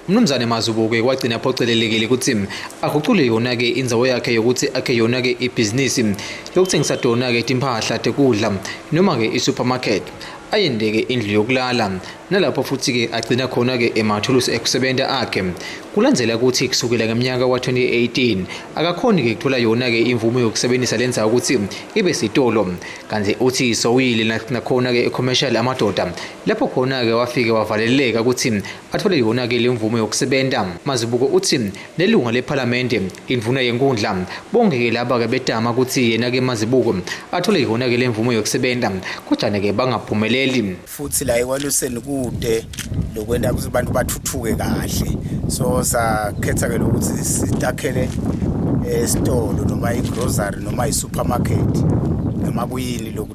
Mnumzane Mazubuke wagcina aphocelelekile ukuthi agucule yona-ke inzawo yakhe yokuthi akhe yona-ke ibhizinisi lokuthengisa tona-ke timpahla tekudla noma-ke i-supermarket ayendeke indlu yokulala nalapho futhi-ke agcina khona-ke emathulusi ekusebenta akhe kulandzela ukuthi kusukela ngemnyaka wa-2018 akakhoni-ke kuthola yona-ke imvumo yokusebenzisa le ndzawo ukuthi ibe sitolo kanti uthi sowuyile nakhona-ke e-commercial amadoda lapho khona-ke wafike wavaleleka ukuthi athole yona-ke le mvume yokusebenza mazibuko uthi nelunga lephalamende indvuna yenkundla bonke-ke laba-ke betama ukuthi yena-ke mazibuko athole yona-ke le mvume yokusebenza kodwana-ke bangaphumeleli futhi la ekwaluseni kude lokwenta ukuthi abantu bathuthuke kahle so sakhetha-ke lokuthi sitakhele esitolo eh, noma igrocery noma isupermarket noma kuyini loku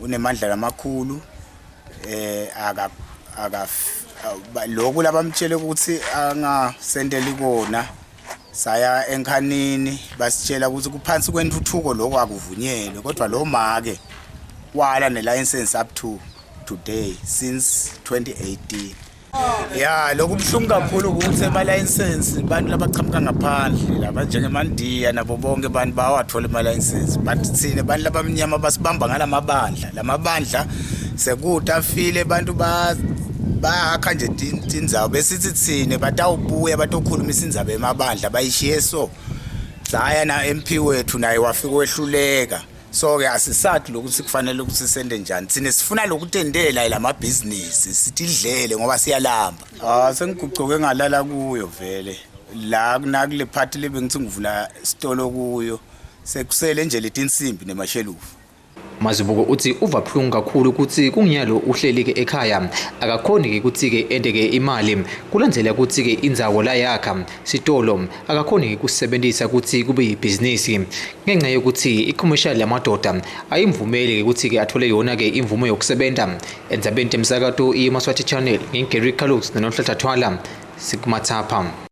unemandla lamakhulu eh aka aka lokhu labamtshele ukuthi angasendeli kona saya enkhanini basitshela ukuthi kuphansi kwentuthuko lokho akuvunyelwe kodwa lo make wala nelicense up to today since 2018 ya lokhu kubuhlungu kakhulu ukuthi emalayisensi abantu labaqhamuka ngaphandle laba njengemandiya nabo bonke abantu bawathole emalayisensi but thina abantu labamnyama basibamba ngala mabandla la mabandla sekutafile abantu bahakha nje tindzawo besithi thina batawubuya batokhulumisa indzaba emabandla bayishiye so saya na MP wethu naye wafika wehluleka so ke asisadi lokuthi kufanele ukuthi sende njani thina sifuna lokutendela lamabhizinisi sitidlele ngoba siyalamba ah sengigucoke ngalala kuyo vele la kunakule party le bengithi ngivula isitolo kuyo sekusele nje letinsimbi nemashelufu Mazibuko uthi uva buhlungu kakhulu ukuthi kunginyalo uhleli ke ekhaya akakhoni ke ukuthi ke ende ke imali kulandlela ukuthi ke inzawo la yakha Sitolo akakhoni ngikusebenzisa ukuthi kube yibhizinisi ngenxa yokuthi i-commercial yamadoda ayimvumeli ukuthi ke athole yona ke imvume yokusebenza enzabeni temsakato iyemaswati channel ngingigary calux nononhlathathwala sikumathapha